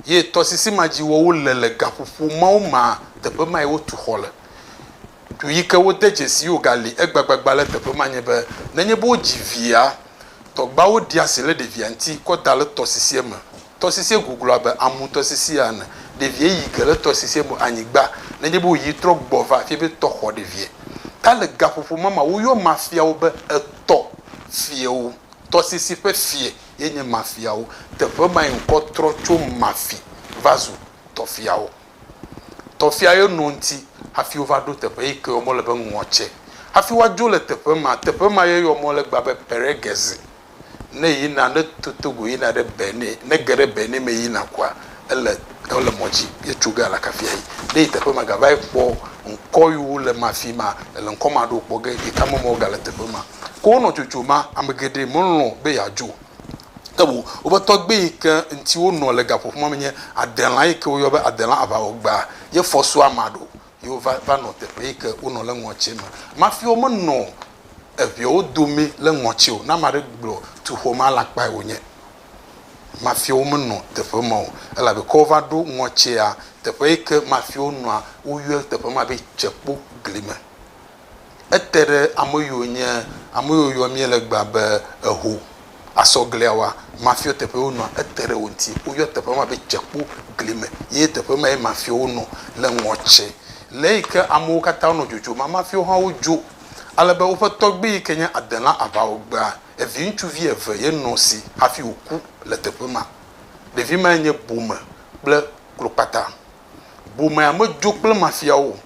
ye tɔsisi ma dzi woawo le le gaƒoƒo mawo mea, teƒe mae wotu xɔ le. Du yi ke wode dzesii wogali egbagbagba le teƒe ma nye be, nenye be wodzi via, tɔgbeawo ɖia asi le ɖevia ŋuti kɔ da le tɔsisia me. Tɔsisia guglu abe Amu tɔsisia ene. Ɖevia yi ge le tɔsisia me anyigba nenye be wòyi trɔ gbɔ va fia be tɔ xɔ ɖevia. Ta le gaƒoƒo ma mea, woyɔ mafia wo be etɔ fiawo, tɔsisi ƒe fia. ye nye mafiawo. Teƒe mae ŋkɔ trɔ tso mafi va zu tɔfiawo. Tɔfia ye no ŋti hafi wova ɖo teƒe yi ke yɔ mɔ le be Ŋɔtsɛ. Hafi woadzo le teƒe ma, teƒe ma ye yɔ mɔ le egbea be Pɛrɛgɛzi. Ne yina, ne to Togo yina ɖe Bɛni, ne ge ɖe Bɛni me yina kɔa, ele, ele mɔ dzi ye tso ga la kafia yi. Ne yi teƒe ma gava yi kpɔ ŋkɔ yiwo le mafi ma, ele ŋkɔ ma ɖo kpɔ ge, yi ka me mɔ gale teƒe ma. Ke wonɔ dzodzom ma, ame geɖe melɔ̃ be yeadzo ke o. Woƒe tɔgbui yi ke ŋuti wonɔ le gaƒoƒo ma me nye Adelã yi ke woyɔ be Adelã Aʋawɔgbea. Ye fɔsua ma ɖo ye wova va nɔ teƒe yi ke wonɔ le ŋɔtsia me. Mafi womenɔ eŋɛwo dome le ŋɔtsia o. Ne ame aɖe gblɔ tuxewo me alakpae wònye. Mafi womenɔ teƒe ma o elabe ke wova ɖo ŋɔtsia teƒe yi ke mafi wonɔa, woyɔe teƒe ma be Tsekpogli me. ete ɖe ame yiwo nye ame yiwo yɔ mí le egbea be eho. Asɔglia wa, mafiɔ teƒe ye wonɔa, ete ɖe wo ŋuti. Woyɔ teƒe ma be Tsekpo gli me ye teƒe mae mafiɔwo nɔ le ŋɔtse. Le eyi ke amewo katã wonɔ dzodzom ma, mafiɔwo hã wodzo ale be woƒe tɔgbui yi ke nye Adela aʋawɔgbea, eviŋutsuvi eve ye nɔ esi hafi wòku le teƒe ma. Ɖevi mae nye bome kple klokpata. Bomea medzo kple mafiawo o.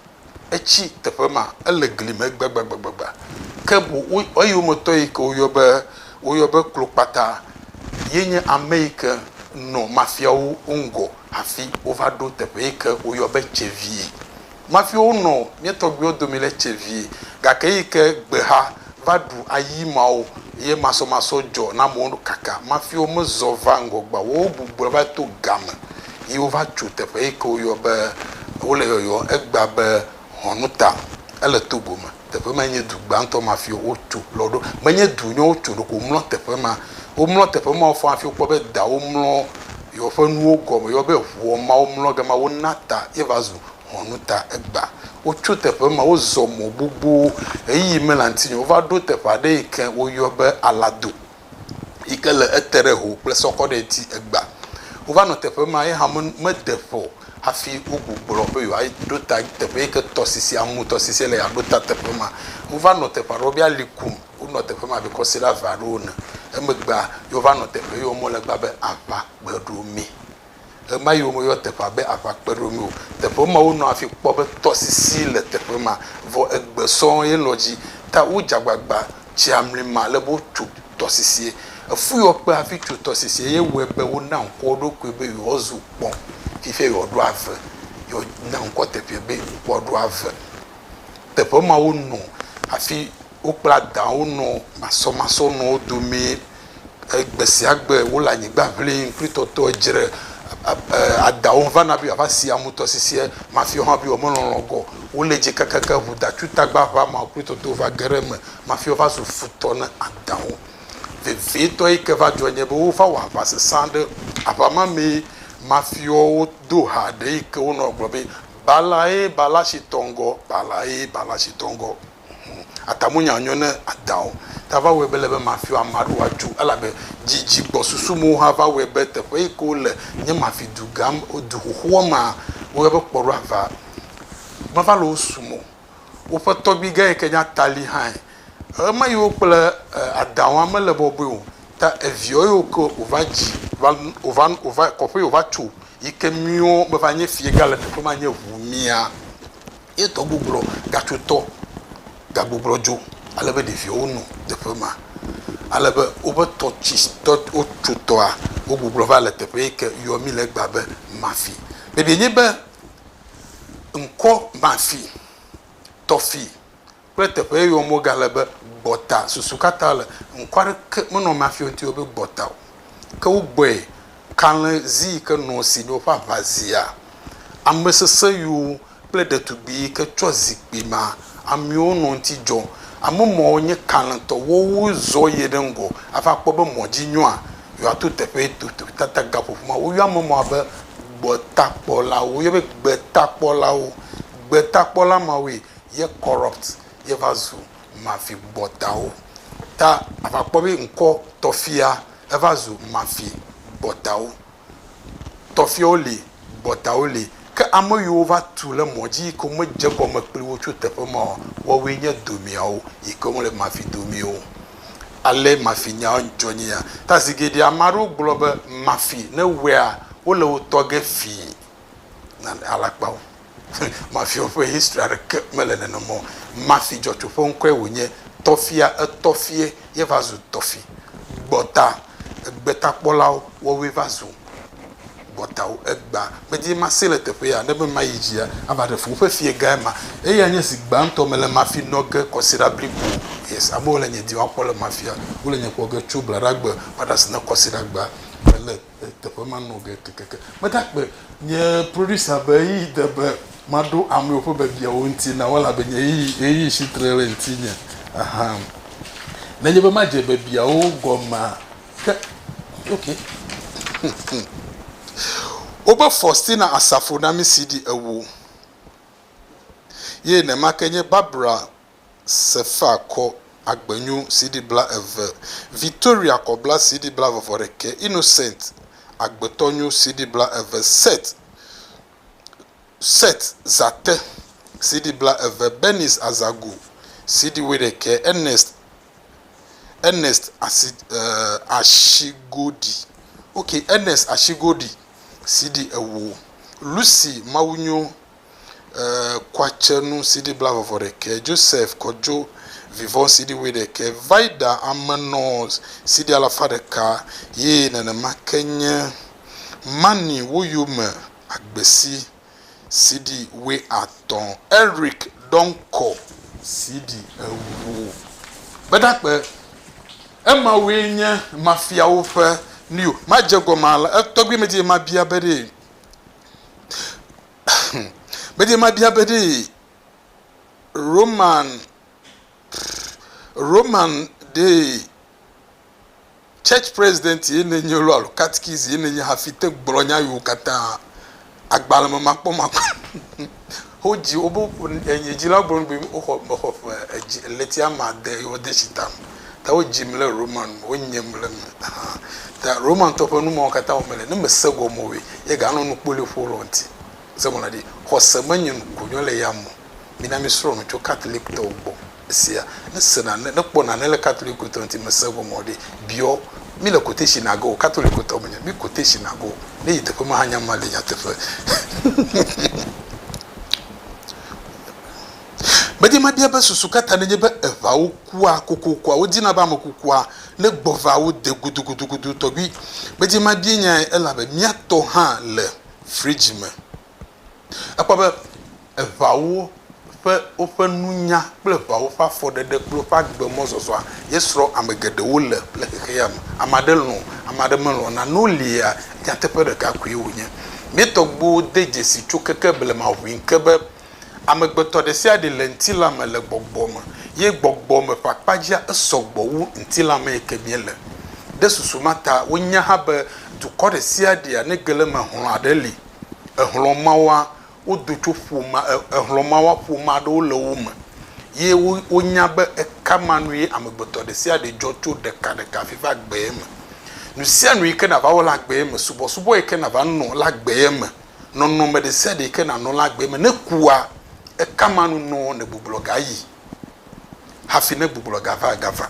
Etsi teƒe ma. Ele gli me gbagbagbagba. Ke boŋ eyometɔ yi ke woyɔ be, woyɔ be Klokpata ye nye ame yi ke nɔ mafiawo ŋgɔ hafi wova ɖo teƒe yi ke woyɔ be Tsevie. Mafiawo nɔ mía tɔgbuiwo dome le Tsevie gake eyi ke gbexa va ɖu ayi mawo ye masɔmasɔ dzɔ na amewo kaka mafiwo mezɔ va ŋgɔ gba wowo gbugbɔe va to game yi wova tso teƒe yike woyɔ be wole yɔyɔ egba be hɔnuta ele togo me teƒe ma nye du gbantɔ mafiwo wotso lɔ ɖo menye du nye wotso ɖoko womlɔ teƒe ma womlɔ teƒe ma wofɔ hafi wokpɔ be da womlɔ yɔ ƒe nuwo gɔme yɔ be ʋuɔ ma womlɔ gama wona ta ye va zu Ŋɔnu ta egbea, wotso teƒe ma, wozɔ mɔ gbogbo ɣeyiɣi me le aŋutinye. Wova ɖo teƒe aɖe yi ke woyɔ be Alado yi ke le ete ɖe ho kple sɔkɔ ɖe ŋuti egbea. Wova nɔ teƒe ma ye hã mede ƒe o hafi wogugblɔ be yewoa ɖo ta teƒe yi ke tɔsisi, Amu tɔsisi le yewoaɖo ta teƒe ma. Wova nɔ teƒe aɖewo be ali kum. Wonɔ teƒe ma abe kɔsiɖe ave aɖewo ene. Emegbea, yewova nɔ teƒe yi wɔm wole gbea be aʋa kpe ɖo mɛ. Ɣemaɣi womeyɔ teƒea be aʋakpeɖomi o. Teƒe ma wonɔ hafi kpɔ be tɔsisi le teƒe ma. Vɔ egbe sɔŋ ye lɔ dzi ta wodze agbagba tsia mli ma ale be wotu tɔsisie. Efu yɔ kpe hafi tu tɔsisie ye wɔe be wona ŋkɔ wo ɖokui be yewoazu kpɔ. Fifia yewoaɖo ave. Yewona ŋkɔ teƒea be Ŋkua Ɖo Ave. Teƒe ma wonɔ hafi Wokpla daawo nɔ masɔmasɔ nɔ wo domee e gbe sia gbe wo le anyigba ŋlim kple tɔtɔ edzre e adaawo vana be yewoava si amu tɔsisia mafi wohã be yewomelɔlɔ gɔ wo le dzi kakaka ŋu datutagba ƒe ameawo kple tɔtɔwo va ge ɖe eme mafi wova zu futɔ ne adaawo. Vevietɔ yi ke va dzɔ nye be wova wɔ aʋa sesẽ aɖe aʋa ma mee mafiwo do ha ɖe yi ke wonɔ gblɔ be balae bala si tɔ ŋgɔ balae bala si tɔ ŋgɔ. Hm, atamunya nyo ne Ada o. Ta va wɔe be ele be mafi ame aɖewo woatso, elabe didi gbɔ susu mewo hã va wɔe be teƒe yi ke wole nye mafi dugã me, du xoxoa me woyɔna be Kpɔɖoava. Meva le wo sum o. Woƒe tɔgbuigã yi ke nye Atali hãe. Ema yiwo kple Ada wa mele bɔbɔe o. Ta eviawo yiwo ke wòva dzi va, wòva, wòva, kɔƒe yi wòva tso yi ke miwo meva nye fiagã le teƒe ma nye ʋu mia. Ye tɔgbugbulɔ gatso tɔ gagbugbulɔ dzo ale be ɖeviawo no teƒe ma. Ale be woƒe tɔ tsi tɔ wotso tɔa wogbugbulɔ va le teƒe yi ke yɔ mí le egbea be Mafi. Ɖeɖi enye be ŋkɔ Mafi, Tɔfi. kple teƒe ye yɔm wogale be gbɔta. Susu katã le ŋkɔ aɖeke menɔ amea fi ŋuti be gbɔta o. Ke wogbɔe kalẽ zi yi ke nɔ si ɖe woƒe aʋa zia. Ame sesẽ yiwo kple ɖetugbui yi ke tsɔ zikpui ma amewo nɔ ŋuti dzɔ. Ame mawo nye kalẽtɔ. Woawo zɔ yi ɖe ŋgɔ hafi akpɔ be mɔ dzi nyoa, yewoato teƒe ye tututu tata gaƒoƒo ma. Woyɔ ame mawo be gbɔtakpɔlawo. Woyɔ be gbetakpɔlawo. Gbetakpɔla mawoe ye corrupt ye va zu mafi gbɔtawo ta ava kpɔ be ŋkɔ tɔfia eva zu mafi gbɔtawo tɔfiawo li gbɔtawo li ke ame yiwo va tu le mɔ dzi yi ke me dze gɔme kpli wo tso teƒe ma o wɔwoe nye domiawo yi ke wo le mafi domiwo ale mafi nya dzɔ nye ya ta zi geɖe ame aɖewo gblɔ be mafi ne wea wo le wo tɔ ge fii na alakpawo Mafiawo ƒe history aɖeke mele nenem o. Mafi dzɔtsu ƒe ŋkɔe wònye. Tɔfia, etɔfie ye va zu tɔfi. Gbɔta, egbetakpɔlawo wɔwoe va zu gbɔtawo. Egbea, medi be masee le teƒe ya, ne be mayi dzia, ava ɖe fu. Woƒe fie gãe ma. Eyae nye zi gbãtɔ mele Mafi nɔ ge kɔsiɖa blibo. Yes, amewo le nye dim akpɔ le Mafia. Wole nye kpɔ ge tso Bladagbe va ɖe asi na kɔsiɖagbea. Mele. Teƒe ma nɔ ge kekeke. Medakpe nye producer be ɣeyiɣi de be maɖo amewo ƒe biabiawo ŋuti na wo elabe nye ɣeyiɣi, ɣeyiɣi si tre ɖe ŋutinye. Aha. Nenye be madze biabiawo gɔmea, ke, ok. Wobe Faustina Asafo na mí CD ewo. Ye nenema ke nye Barbara. Sefar kɔ Agbenyu CD blaeve, Victoria kɔ bla CD blavevɔɖekɛ, Innocent Agbetɔnyu CD blaeve, Seth Seth Zate CD blaeve, Bernice Azagu CD wuiɖekɛ, Ernest Ernest Asi eh, Ashigodi ok Ernest Ashigodi CD ewo, Lucy Mawunyo Kuatsenu CD blavɔvɔ ɖekɛ, Joseph Kojo Vivɔ CD wuiɖekɛ, Vida Amenɔ CD alafa ɖeka ye nenema ke nye Mani Woyome Agbesi CD wuiatɔ̃, Eric Donkor CD ewo. Gbedagbe, Emawue nye mafiawo ƒe nuyo. Madze egɔme alea, etɔgbuimedie mabia be ɖee? Medi mabia be ɖe Roman Roman ɖe church president ye nenye lo alo katikisi ye nenye hafi te gblɔ nya yiwo katã agbalẽ me makpɔmakpɔ. Wodzi wo be enye dzi la gblɔ be woxɔ mexɔ ƒe edzi ɣleti ame ade ye wode tsi ta me ta wodzim le Roma nu me wonyem le eme hã ta Romantɔ ƒe nu mawo katã wɔme le ne mese gɔme oe ye ganɔ nu kpoliƒo lɔ ŋuti se gɔme na ɖi xɔse menye nu konyo le ya mo mina mi srɔ̃ nu tso Catholic tɔwo gbɔ. Esia, ne se nane, ne kpɔ nane le Katoliko tɔ ŋuti, me se ŋɔ mɔ ɖe, biɔ, mi le quotation na go, Katoliko tɔ me nye, mi quotation na go, ne yi teƒe ma hã nya ma le nyateƒe. Medi mabia be susu ka ta nenye be eŋawo kua kokokua, wodina be ame kukua ne gbɔ va wo de gudugudugudu tɔgbi. Medi mabienyae elabe mia tɔ hã le fridge me. Ekpɔ be eʋawo ƒe woƒe nunya kple eʋawo ƒe afɔɖeɖe kple woƒe agbemɔzɔzɔa ye srɔ̃ ame geɖewo le le xexea me. Ame aɖe lɔ̃, ame aɖe melɔ̃. Nane wolia, nyateƒe ɖeka koe wònye. Mía tɔgbuiwo de dzesi tso keke blema ʋui ke be amegbetɔ ɖe sia ɖe le ŋutilã me le gbɔgbɔ me, ye gbɔgbɔ me ƒe akpa dzia esɔ gbɔ wu ŋutilã mee ke míele. Ɖe susu ma ta wonyae hã be dukɔ ɖe sia ɖea ne ge le eme hlɔ̃a ɖe li. exlɔ̃ mawoa, wodo tso ƒomea, exlɔ̃ mawoa, ƒomea ɖewo le wo me. Ye wo, wonya be ekama nue amegbetɔ ɖe sia ɖe dzɔ tso ɖeka ɖeka hafi va gbee me. Nu sia nu yi ke nàva wɔ le agbee me, subɔsubɔ yi ke nàva nɔ le agbee me, nɔnɔme ɖe sia ɖe yi ke nànɔ le agbee me, ne kua, ekama nu nɔ nègbuglɔ gayi hafi ne gbuglɔ gava, gava.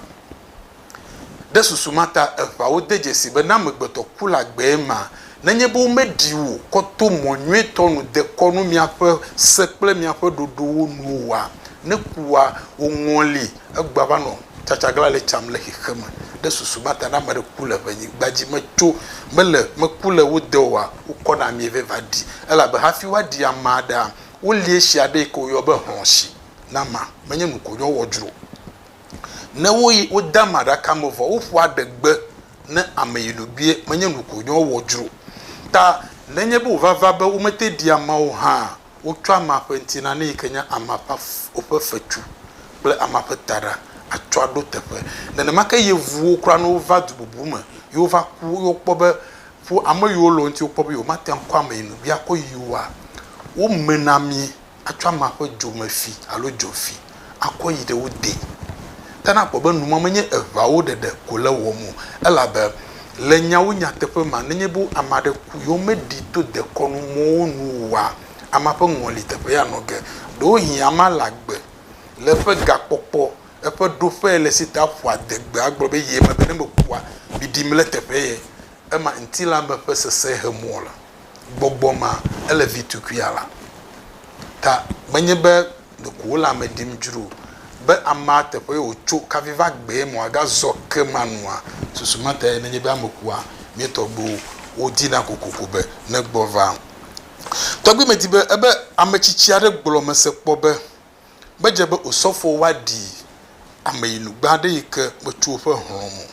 Ɖe susu ma ta eŋawo de dzesii be ne amegbetɔ ku la gbee ma, nenye be womeɖi wò kɔ to mɔ nyuitɔ nu dekɔ nu miaƒe se kple miaƒe ɖoɖowo nu oa, ne kua woŋɔli egbea va nɔ tsatsaglã le tsam le xexeme. Ɖe susu ma ta ne ame aɖe ku le ʋe nyigba dzi metso mele meku le wo de oa, wokɔna amie vɛ va ɖi. Elabe hafi woaɖi ame aɖea, wolie tsi aɖe yike woyɔ be hlɔ̃tsi na ma. Menye nukonyo wɔ dzro. Ne woyi wode ame aɖaka me vɔ woƒoa adegbe ne ame yi nu bie menye nu ko nyɔ wɔ dzro ta nenye be wova va be womete ɖi amea o hã wotsɔ amea ƒe ŋtina ne yike nye amea ƒe woƒe fetsu kple amea ƒe taɖa atsɔ aɖo teƒe nenema ke yevuwo kura ne wova du bubu me ye wova ku ye wokpɔ be ƒo ame yiwo le wo ŋti wokpɔ be yewo mate ŋu akɔ ame yi nu bia kɔ yi woa wo menamie atsɔ amea ƒe dzomefi alo dzofi akɔ yi ɖe wo dee. Ke ne akpɔ be nu ma menye eŋawo ɖeɖe ko le wɔm o, elabe le nyawo nyateƒe mea, nenye be ame aɖe ku ye womeɖii to dekɔnu mɔwo nu oa, amea ƒe ŋɔli teƒee anɔ ge. Ɖewohĩ amea le agbe le eƒe gakpɔkpɔ, eƒe ɖoƒee le si ta ƒua adegbe agblɔ be ye megbe ne mekua, ɖiɖim le teƒee ye. Ema ŋutilã me ƒe sesẽ he mɔ la. gbɔgbɔ ma ele vi tukuia la ta menye be ɖeko wole ame ɖim dzro o, be amea teƒee wòtso kavi va gbee ma wòagazɔ ke ma nua? Susu ma tae nenye be ame kua, mía tɔgbuiwo wodina kokoko be negbɔ va. Tɔgbui medi be ebe ame tsitsi aɖe gblɔ mese kpɔ be, Medze be osɔfowo woaɖi ame yi nugbe aɖe yi ke metso woƒe hlɔ̃ me o.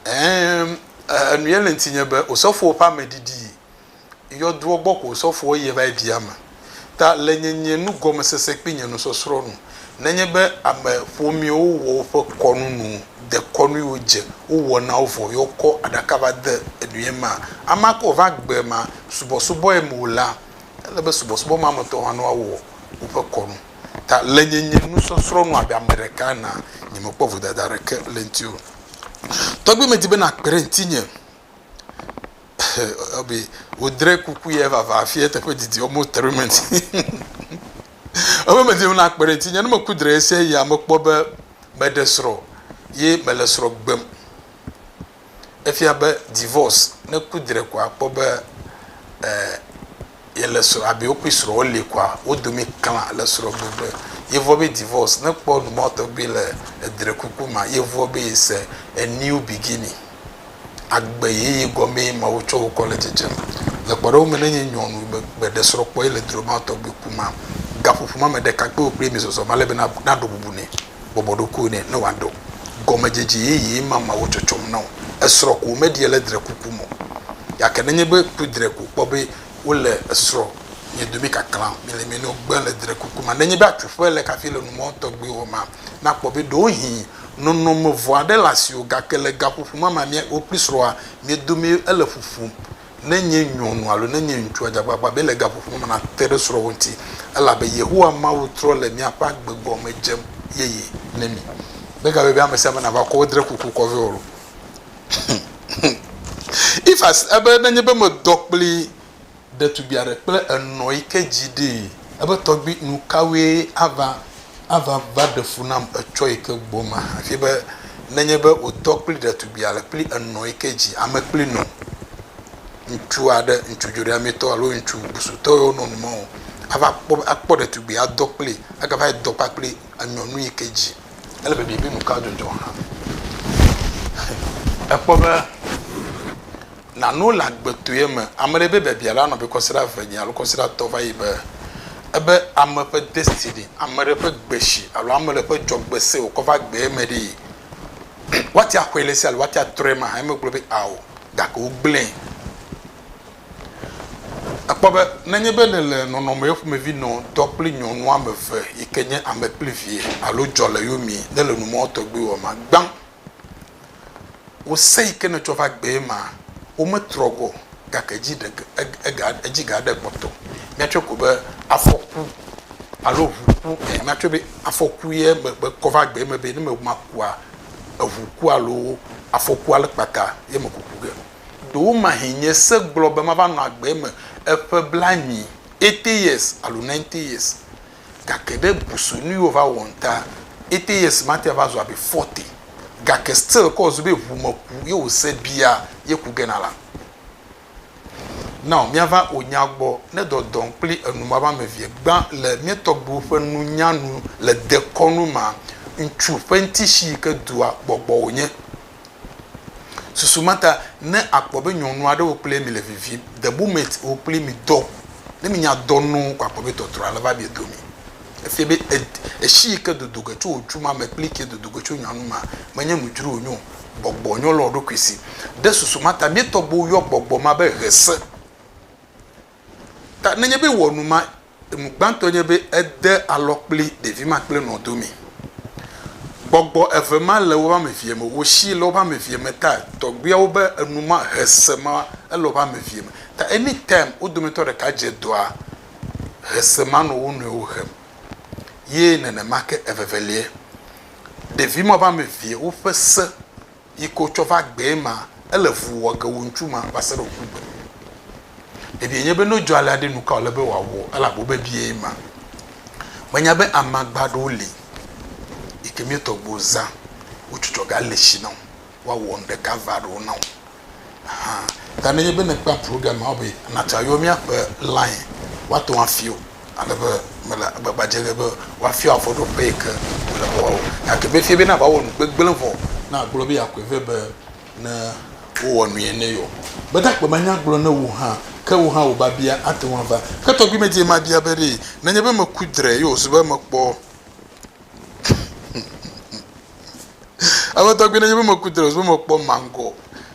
Ɛɛm, enuye le ŋtinye be osɔfowo ƒe ame ɖiɖi yɔdoɔ gbɔ ko osɔfoɔ yie va yi ɖi ame. Ta le nye nye nugɔmesese kpli nye nusɔsrɔ̃ nu, nenye be ame ƒomeɛwo wɔ woƒe kɔnu nu dekɔnui wo dze wo wɔ na wo vɔ ye wo kɔ aɖaka va de enuye mea, amea ke wova gbe ma subɔsubɔɛ me o la, ele be subɔsubɔ ma me tɔwo hã ne woa wɔ woƒe kɔnu. Ta le nye nye nusɔsrɔ̃ nu abe ame ɖeka enea, nyemekpɔ vodada aɖeke le eŋuti o. Tɔgbi medi be nàkpe ɖe ŋutinye Ɔbi, wodre kuku ye vava hafi eteƒe didi almost three months Ɔbi, medi be nàkpe ɖe ŋutinye ne meku dre ɣesia ɣia mekpɔ be meɖe srɔ̃ ye mele srɔ̃ gbem. efia be divorce ne ku dre koa akpɔ be e yele srɔ abi wokui srɔ woli koa wodomi kla le srɔ gbegbe yevɔ be divorce ne kpɔ numɔwo tɔgbi le edre kuku ma yevɔ be yese eniu bigini agbe yeye gɔme ye ma wotsɔ wokɔ le dzedzem le kpɔɖewo me ne nye nyɔnu be gbe ɖe srɔ kpɔ yele droma tɔgbi kuma gaƒoƒo ma me ɖekakpiwo kple mi zɔzɔm alebe na naɖo bubu nɛ bɔbɔ ɖokuiwò nɛ ne wòaɖɔ gɔmedzedze yeye mamɛawo tsɔtsɔm na wò. Esrɔ̃ ko wòmeɖia le drekuku me o. Gake nenye be ku dre ko wòkpɔ be wole esrɔ̃nye dome kaklãm, mele eme nɛ wògbe le drekuku me. Nenye be atsuƒe le kafi le numɔ̃ tɔgbiwo hɔma, nakpɔ be ɖewohĩ nɔnɔme vɔ̃ aɖe le asiwò. Gake le gaƒoƒo mamamea wò kple srɔ̃a mia domee ele ƒuƒum. ne nye nyɔnu alo ne nye ŋutsua dze agbagba be le gaƒoƒo me nate ɖe srɔ̃wò ŋuti, elabe Yehowa Mawu trɔ le miaƒe agbe gɔme dze yeye ne mi. Megayɔe be ame sia ame nava kɔ wo dre kuku kɔ vɛ o. Ifaz be nenye be medɔ kpli ɖetugbi aɖe kple enɔ yi ke dzi ɖee, ebe tɔgbi, nukawoe ava Ava va ɖe fu nam etsɔ yi ke gbɔ ma hafi be nenye be wòtɔ kpli ɖetugbui ale kpli enɔ yi ke dzi ame kpli nɔ ŋutsu aɖe, ŋutsu dzoɖeamitɔ alo ŋutsu busutɔ yi wonɔ nu mɔ o, ava kpɔ be akpɔ ɖetugbui adɔ kpli agava yi dɔ kpakpli enyɔnu yi ke dzi. Ele be biabiɛ nu ka dzɔdzɔ hã ekpɔ be. Nano le agbetoea me, ame ɖe be biabia la nɔ be kɔsiɖa eve nye alo kɔsiɖa etɔ̃ va yi be ebe ame ƒe destiny, ame ɖe ƒe gbeshi alo ame ɖe ƒe dzɔgbe se wòkɔ va gbea me ɖee. Woate axɔe le esi alo woate atrɔe ema hã. Emegblɔ be ao gake wogblẽe. Èkpɔ be nenye be nèle nɔnɔme ƒomevi nɔ dɔ kple nyɔnu ame eve yi ke nye ame kple vie alo dzɔleyomie nèle numɔ̃tɔgbi wɔmea, gbã Wò se yi ke nètsɔ va gbee ma, wometrɔ gbɔ o, gake edzi ɖe, ega, edzi ga ɖe kpɔtɔ. Míatsɔe ko be afɔku alo ŋu ku ene. Míatsɔe be afɔku ye me, mekɔ va gbee me be ne me makua, eŋu ku alo afɔku ale kpata ye me kuku ge. Ɖewomahĩ nye se gblɔ be mava nɔ agbe eme eƒe blanyui, eighty years alo ninety years. Gake ɖe busu nui wo va wɔ ŋta ete ye smarty va zu abi forty gake still ke wo zu be ʋu me ku ye wo se bia ye ku gena la. Now mia va o nya gbɔ ne dɔ dɔn kpli enu ma va me vie gba le mia tɔgbiwo ƒe nu nya nu le dekɔnu ma ŋtsu ƒe ŋti shi yi ke dua gbɔgbɔ wo nye. Susu ma ta ne akpɔ be nyɔnu aɖe wo kple mi le vivim, the moment wo kple mi dɔ, ne mi nya dɔ nu ko akpɔ be tɔtrɔ ale va mia dome. Efia be esi yi ke dodo ge tso wò dzu ma me kple ke dodo ge tso nyɔnu ma menye nu dzro wonye o. Gbɔgbɔ nyɔ le wò ɖokui si. Ɖe susu ma ta mía tɔgbuiwo yɔ gbɔgbɔ ma be ʋese. Ta nenye be wɔ nu ma, enu gbãtɔ nye be ede alɔ kpli ɖevi ma kple nɔ do mi. Gbɔgbɔ eve ma le woƒe ame vie me, wo shi le woƒe ame vie me ta tɔgbuiawo be enu ma he se ma ele woƒe ame vie me. Ta any time wo dometɔ ɖeka dze dɔa, he se ma nɔ wo nɔewo hem. Ye nenemake evevelie, ɖevi ma ƒe ame vie, woƒe se yi ko tsɔ va gbee ma, ele vu wɔ ge wu ŋutsu ma va se ɖe wòku gbe. Biabiae nye be, ne wodzɔ alea ɖe, nu ka wòle be wòawɔ? Ele abe wobebie ye ma. Menya be amagba aɖewo li yi ke míetɔ gbɔ zã, wo tsɔtsɔ gale esi na wo, woawɔ nu ɖeka evea ɖewo na wo hã. Ta ne enye be nèkpɔa programme be natso ayɔ míaƒe line, woate ŋu afia wò. Ale be mele agbagba dzem ɖe be woafia wò afɔɖoƒe yi ke wòle be woawɔ. Gake be fie bena wòawɔ nu gbegblẽ vɔ ne àgblɔ be yeakɔe vɛ be ne wowɔ nui nɛ yeɔ? Gbedagbe manya gblɔ na wò hã, ke wò hã wò biabia ate ŋu ava. Ke tɔgbui medie mabia be ɖee nenye be meku dre ye wòzu be mekpɔ Eƒe tɔgbi ɖe nye be meku drɔs be mekpɔ mangɔ.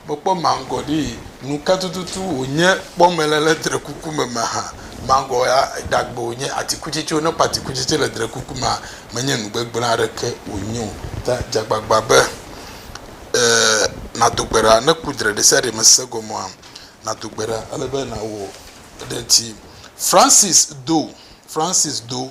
Mekpɔ mangɔ ɖi. Nuka tututu wònye kpɔ mele le drekuku me me hã. Mangɔ ya ɖagbe wònye, atikutsetse wònye. Ne ekpɔ atikutsetse le drekuku mea, menye nu gbegblẽ aɖeke wònye o. Ta dze agbagba be ɛɛ nàdo gbe ɖa. Ne èku dre ɖesiaɖe me se gɔmea, nàdo gbe ɖa. Ele be nàwɔ eɖe ŋuti. Francis do, Francis do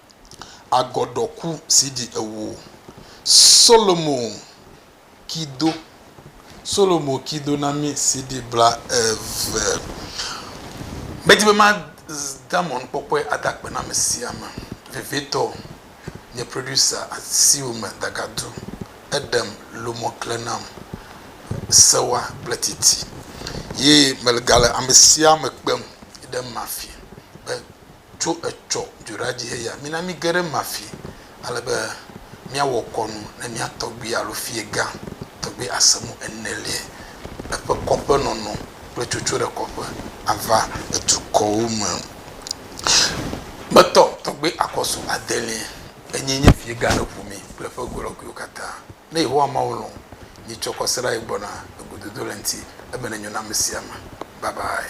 agɔdɔku si ɖi ewo. Solomo kido Solomo kido na mí CD bla eve. Medi be ma de amɔnukpɔkpɔe ada akpe na ame sia ame vevietɔ nye producer asiwo me dagadu eɖem lomɔ kle nam sewa kple titi ye megale ame sia ame kpem yi ɖe mafi be tso etsɔ dzoɖadzi heya, mina mige ɖe ema fi ale be míawɔ kɔnu ne mía tɔgbui alo fiegã tɔgbi Asemu Eneliae, eƒe kɔƒenɔnɔ kple tsotso ɖe kɔƒe ava edukɔwo me me tɔ tɔgbi Akɔsu Adelia enyi nye fiegã ɖe ʋu mi kple ƒe golɔguiwo katã. Ne Yehowa Mawu lɔ̃, mitsɔ kɔsiɖa yi gbɔna egododo le ŋti ebe nenyo na amesia ame. Babae.